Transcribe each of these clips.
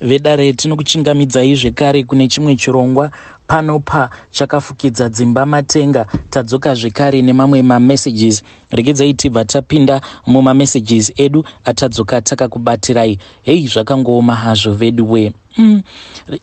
Vedare tinokuchingamidzai zvekare kune chimwe chirongwa pano pa chakafukidza dzimba matenga tadzoka zvekare nemamwe mamessages regedzai tibva tapinda mumamessages edu atadzoka takakubatirai hei zvakangooma hazvo veduwe mm.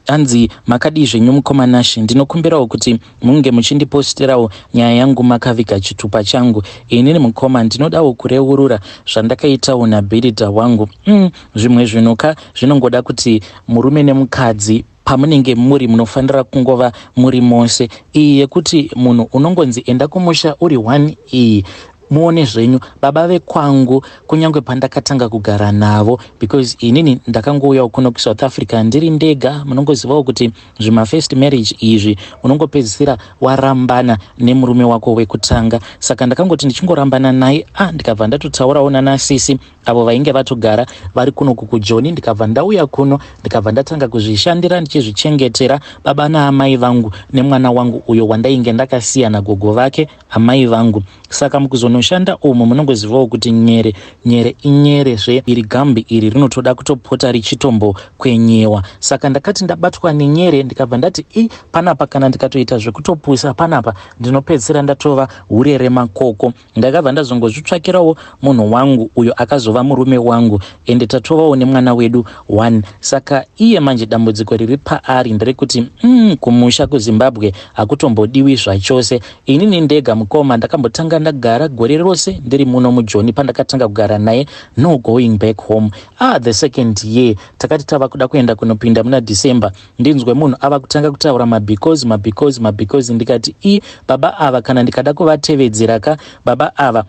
hanzi makadii zvenyu mukomanashi ndinokumbirawo kuti munge muchindipostirawo nyaya yangu makaviga chitupa changu inini mukoma ndinodawo kureurura zvandakaitawo nabhiridha wangu mm, zvimwe zvinhu ka zvinongoda kuti murume nemukadzi pamunenge muri munofanira kungova muri mose iyi yekuti munhu unongonzi enda kumusha uri one iyi Muone zvenyu baba vekwangu kunyange pandakatanga kugara navo because inini ndakangouyawo kuno kusouth africa ndiri ndega munongozivawo kuti zvimafirst marriage izvi unongopedzisira warambana nemurume wako wekutanga saka ndakangoti ndichingorambana naye a ah, ndikabva ndatotaurawo nanasisi avo vainge vatogara vari kuno kukujoni ndikabva ndauya kuno ndikabva ndatanga kuzvishandira ndichizvichengetera baba naamai vangu nemwana wangu uyo wandainge ndakasiya nagogo vake Amai vangu, saka mukuzonoshanda umu munongozivawo kuti nyere nyere inyere zve iri gambi iri rinotoda kutopota richitombo kwenyewa. Saka ndakati ndabatwa nenyere ndikabva ndati i panapa kana ndikatoita zvekutopusa panapa ndinopedzisira ndatova hure remakoko. Ndakabva ndazongozvitsvakirawo munhu wangu uyo akazova murume wangu ende tatovawo nemwana wedu one saka iye manje dambudziko riri paari nderekuti mm, kumusha kuzimbabwe hakutombodiwi zvachose inini ndega mukoma ndakambotanga ndagara gore rose ndiri muno mujoni pandakatanga kugara naye no going back home ah the second year takati tava kuda kuenda kunopinda muna december ndinzwe munhu ava kutanga kutaura mabecause mabecause mabecause ndikati i baba ava kana ndikada kuvatevedzera ka baba ava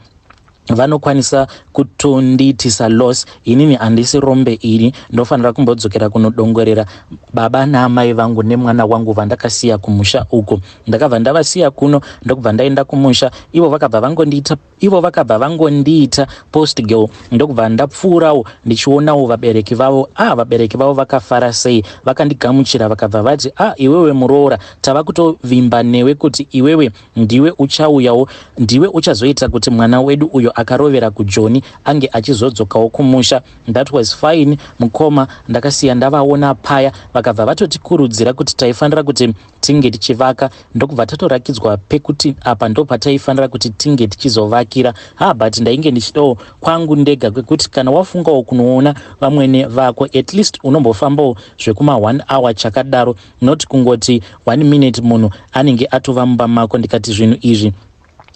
vanokwanisa kutondiitisa loss inini handisi rombe ini ndofanira kumbodzokera kunodongorera baba naamai vangu nemwana wangu vandakasiya kumusha uko ndakabva ndavasiya kuno ndokubva ndaenda kumusha ivo vakabva vangondiita ivo vakabva vangondiita post girl ndokubva ndapfuurawo ndichionawo vabereki vavo ah vabereki vavo vakafara sei vakandigamuchira vakabva vati ah iwewe muroora tava kutovimba newe kuti iwewe Ndiwe uchauyawo, ndiwe uchazoita kuti mwana wedu uyo akarovera kuJoni ange achizodzokawo kumusha. That was fine mukoma, ndakasiya ndavaona paya vakabva vatotikurudzira kuti taifanira kuti tinge tichivaka ndokubva tatorakidzwa pekuti apa ndopataifanira kuti tinge tichizovakira. Ha but ndainge ndichidawo kwangu ndega kwekuti kana wafungawo kunoona vamwene vako at least unombofambawo zvekuma one hour chakadaro. not kungoti one minute munhu anenge atova mumba mako ndikati zvinhu izvi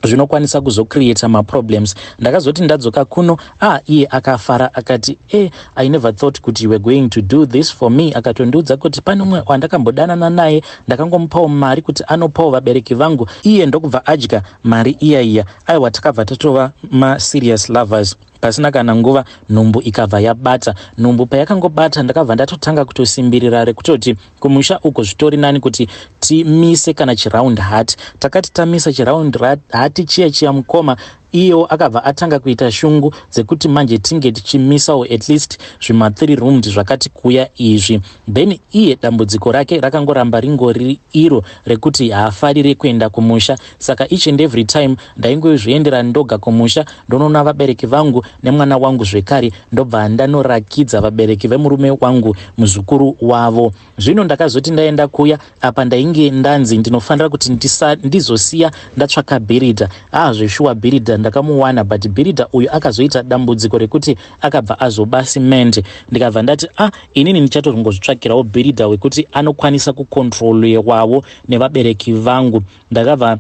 zvinokwanisa kuzocreata maproblems ndakazoti ndadzoka kuno a ah, iye akafara akati e eh, i never thought kuti you were going to do this for me akatondiudza kuti pane umwe wandakambodanana naye ndakangomupawo mari kuti anopawo vabereki vangu iye ndokubva adya mari iya iya aiwa takabva tatova maserious lovers Pasina kana nguva nhumbu ikabva yabata. Nhumbu payakangobata ndakabva ndatotanga kutosimbirira rekutoti kumusha uko zvitori nani kuti timise kana chiround hat. Takati tamisa chiround hat chiya chiya mukoma iyewo akabva atanga kuita shungu dzekuti manje tinge tichimisawo at least zvima 3 rooms zvakati kuya izvi then iye dambudziko rake rakangoramba ringori iro rekuti haafarire kuenda kumusha Saka each and every time ndaingozviendera ndoga kumusha ndonoona vabereki vangu nemwana wangu zvekare ndobva ndanorakidza vabereki vemurume wangu muzukuru wavo. Zvino ndakazoti ndaenda kuya apa ndainge ndanzi ndinofanira kuti ndisa, ndizosiya ndatsvaka bhiridha. Ah zveshuwa bhiridha ndakamuwana but bhiridha uyu akazoita dambudziko rekuti akabva azoba cement ndikabva ndati ah inini ndichatorongozvitsvakirawo bhiridha wekuti anokwanisa kukontrolewawo nevabereki vangu Ndakabva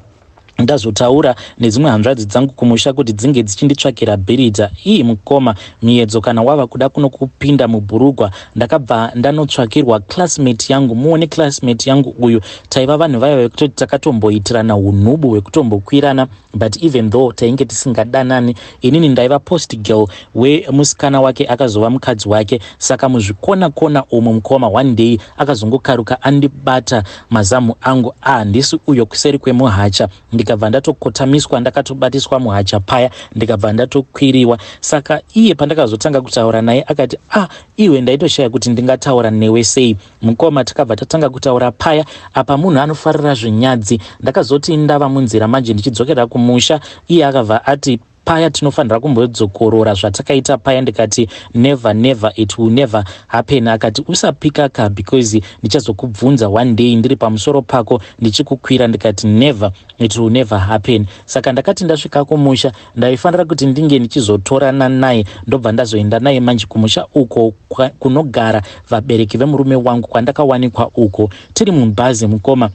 ndazotaura nedzimwe hanzvadzi dzangu kumusha kuti dzinge dzichinditsvakira bhiridha. Ii mukoma Miyedzo kana wava kuda kuno kupinda mubhurugwa ndakabva ndanotsvakirwa classmate yangu. Muone classmate yangu uyu taiva vanhu vaya vekutoti takatomboitirana hunhubu hwekutombokwirana but even though tainge tisingadanani inini ndaiva post girl wemusikana wake akazova mukadzi wake saka muzvikona kona umu mukoma one day Akazongokaruka andibata mazamu angu a handisi uyo kuseri kwemuhacha ndikabva ndatokotamiswa ndakatobatiswa muhacha paya ndikabva ndatokwiriwa saka iye pandakazotanga kutaura naye akati a ah, iwe ndaitoshaya kuti ndingataura newe sei mukoma takabva tatanga kutaura paya apa munhu anofarira zvinyadzi ndakazoti ndava munzira manje ndichidzokera kumusha iye akabva ati paya tinofanira kumbodzokorora zvatakaita paya ndikati never never it will never happen akati usapika ka because ndichazokubvunza one day ndiri pamusoro pako ndichikukwira ndikati never it will never happen saka ndakati ndasvika kumusha ndaifanira kuti ndinge ndichizotorana naye ndobva ndazoenda naye manje kumusha uko kunogara vabereki vemurume wangu kwandakawanikwa uko tiri mubhazi mukoma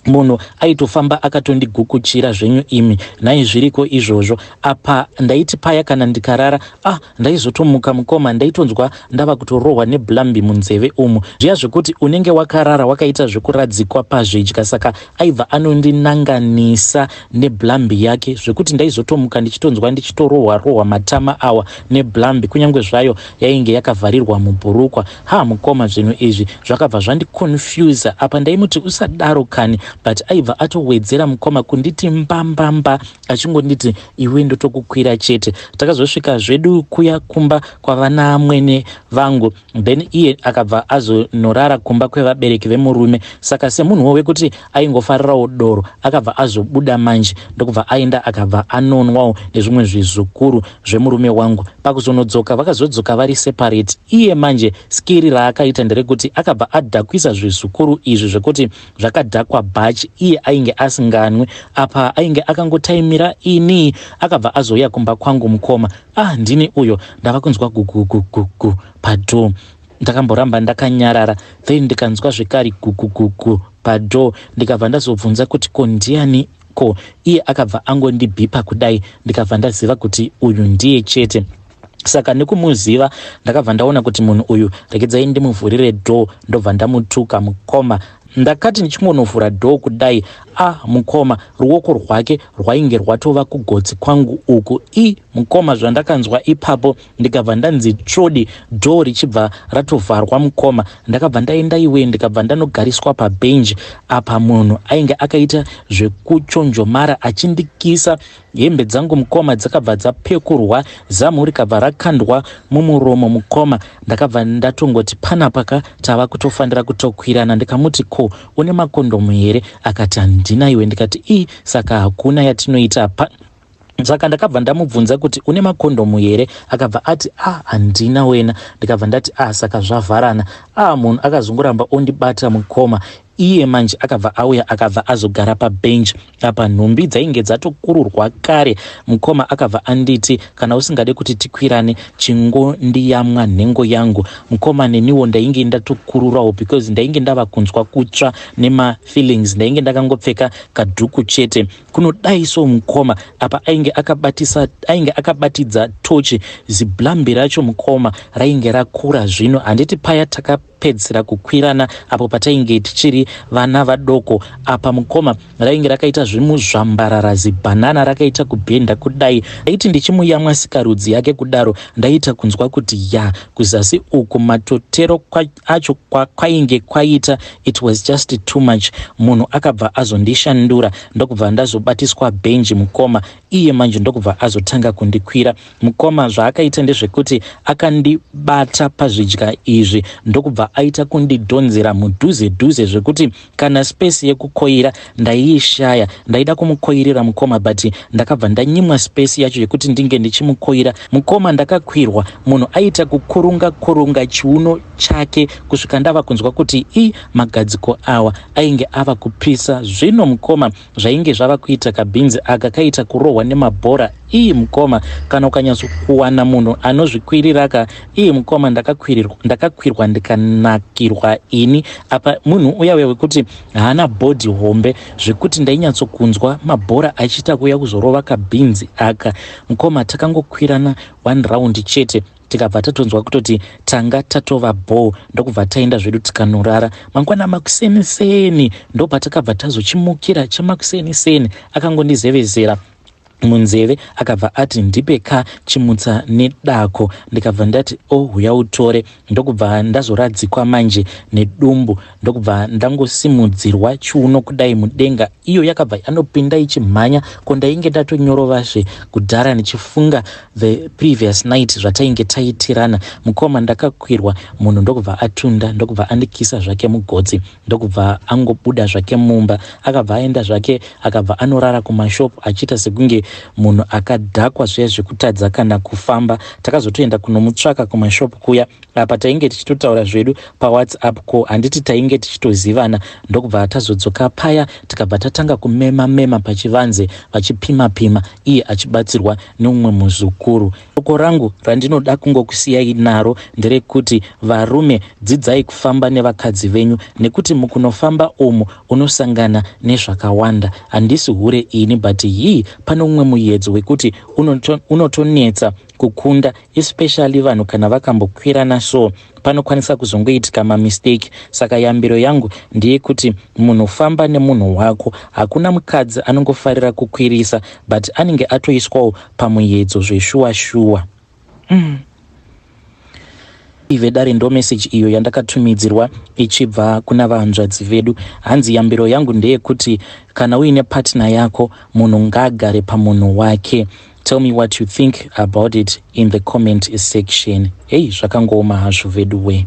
munhu aitofamba akatondigukutchira zvenyu imi nhai zviriko izvozvo apa ndaiti paya kana ndikarara ah ndaizotomuka mukoma ndaitonzwa ndava kutorohwa neblambi munzeve umu zviya zvekuti unenge wakarara wakaita zvekuradzikwa pazvidya saka aibva anondinanganisa neblambi yake zvekuti ndaizotomuka ndichitonzwa ndichitorohwa rohwa matama awa neblambi kunyange zvayo yainge yakavharirwa mubhurukwa Haa mukoma zvinhu izvi zvakabva zvandiconfuser apa ndaimuti usadaro kani but aibva atowedzera mukoma kunditi mbambamba achingonditi iwe ndotokukwira chete. Takazosvika zvedu kuya kumba kwavana amwene vangu then iye akabva azonorara kumba kwevabereki vemurume saka semunhuwo wekuti aingofarirawo doro akabva azobuda manje ndokubva aenda akabva anonwawo nezvimwe zvizukuru zvemurume wangu. Pakuzonodzoka vakazodzoka vari separate. Iye manje skiri raakaita nderekuti akabva adhakwisa zvizukuru izvi zvekuti zvakadhakwa bhachi iye ainge asinganwe. Apa ainge akangotaimira ini akabva azouya kumba kwangu mukoma. Ah ndini uyo ndava kunzwa gugugugugu padoor. Ndakamboramba ndakanyarara then ndikanzwa zvekare gugugugu padoor ndikabva ndazobvunza kuti ko ndiani Ko iye akabva angondibhipa kudai ndikabva ndaziva kuti uyu ndiye chete saka nekumuziva ndakabva ndaona kuti munhu uyu rekedzai ndimuvhurire door ndobva ndamutuka mukoma ndakati ndichingonovhura door kudai a ah, mukoma ruoko rwake rwainge rwatova kugotsi kwangu uku i mukoma zvandakanzwa ipapo ndikabva ndanzi tsvodi door richibva ratovharwa mukoma ndakabva ndaenda iwe ndikabva ndanogariswa pabenji apa munhu ainge akaita zvekuchonjomara achindikisa hembe dzangu mukoma dzakabva dzapekurwa zamu rikabva rakandwa mumuromo mukoma ndakabva ndatongoti panapaka tava kutofanira kutokwirana ndikamuti ko une makondomu here akati handina iwe ndikati ii saka hakuna yatinoita pa Saka ndakabva ndamubvunza kuti une makondhomu here akabva ati a ah, handina wena ndikabva ndati a ah, saka zvavharana a ah, munhu akazongoramba ondibata mukoma iye manje akabva auya akabva azogara pabench apa nhumbi dzainge dzatokururwa kare mukoma akabva anditi kana usingade kuti tikwirane chingondiyamwa nhengo yangu mukoma neniwo ndainge ndatokururawo because ndainge ndava kunzwa kutsva nemafeelings ndainge ndakangopfeka kadhuku chete kunodai so mukoma apa ainge akabatisa ainge akabatidza tochi ziblambi racho mukoma rainge rakura zvino handiti paya takapedzisira kukwirana apo patainge tichiri vana vadoko apa mukoma rainge rakaita zvimuzvambarara zibhanana rakaita kubhenda kudai ndaiti ndichimuyamwa sikarudzi yake kudaro ndaiita kunzwa kuti ya kuzasi uku matotero acho kwainge kwaita it was just too much munhu akabva azondishandura ndokubva ndazobatiswa benji mukoma iye manje ndokubva azotanga kundikwira mukoma zvaakaita ndezvekuti akandibata pazvidya izvi ndokubva aita kundidhonzera mudhuze dhuze zvekuti Kana space yekukoira ndaiishaya. Ndaida kumukoirira mukoma but ndakabva ndanyimwa space yacho yekuti ndinge ndichimukoira mukoma. Ndakakwirwa munhu aiita kukurunga kurunga chiuno chake kusvika ndava kunzwa kuti i magadziko awa ainge ava kupisa. Zvino mukoma Zvainge zvava kuita kabhinzi aka kaita kurohwa nemabhora ii mukoma kana ukanyatsokuwana munhu anozvikwirira ka ii mukoma ndakakwirirwa ndakakwirwa ndikanakirwa ini apa munhu uya uya wekuti haana bhodhi hombe zvekuti ndainyatsokunzwa mabhora achiita kuuya kuzorova kabhinzi aka mukoma takangokwirana one round chete tikabva tatonzwa kutoti tanga tatova bhoo ndokubva taenda zvedu tikanorara mangwana makuseni seni ndopatakabva tazochimukira chemakuseni seni akangondizevezera munzeve akabva ati ndipe ka chimutsa nedako ndikabva ndati ohuya oh, utore ndokubva ndazoradzikwa manje nedumbu ndokubva ndangosimudzirwa chiuno kudai mudenga iyo yakabva yanopinda ichimhanya ko ndainge ndatonyorovazve kudhara ndichifunga the previous night zvatainge taitirana mukoma ndakakwirwa munhu ndokubva atunda ndokubva andikisa zvake mugotsi ndokubva angobuda zvake mumba akabva aenda zvake akabva anorara kumashop achiita sekunge munhu akadhakwa zviya zvekutadza kana kufamba takazotoenda kunomutsvaka kumashop kuya apa tainge tichitotaura zvedu pawhatsapp ko handiti tainge tichitozivana ndokubva tazodzoka paya tikabva tatanga kumema mema pachivanze vachipima pima iye achibatsirwa neumwe muzukuru soko rangu randinoda kungokusiyai naro nderekuti varume dzidzai kufamba nevakadzi venyu nekuti mukunofamba umu unosangana nezvakawanda handisi hure ini but hii pane umwe muyedzo wekuti unotonetsa unoto kukunda especially vanhu kana vakambokwirana so panokwanisa kuzongoitika mamistake saka yambiro yangu ndeyekuti munhu famba nemunhu wako hakuna mukadzi anongofarira kukwirisa but anenge atoiswawo pamuyedzo zveshuwa shuwa mm. ive dare ndo message iyo yandakatumidzirwa ichibva kuna vahanzvadzi vedu hanzi yambiro yangu ndeyekuti kana uine partner yako munhu ngaagare pamunhu wake Tell me what you think about it in the comment section. Hey zvakangooma hazvo veduwee.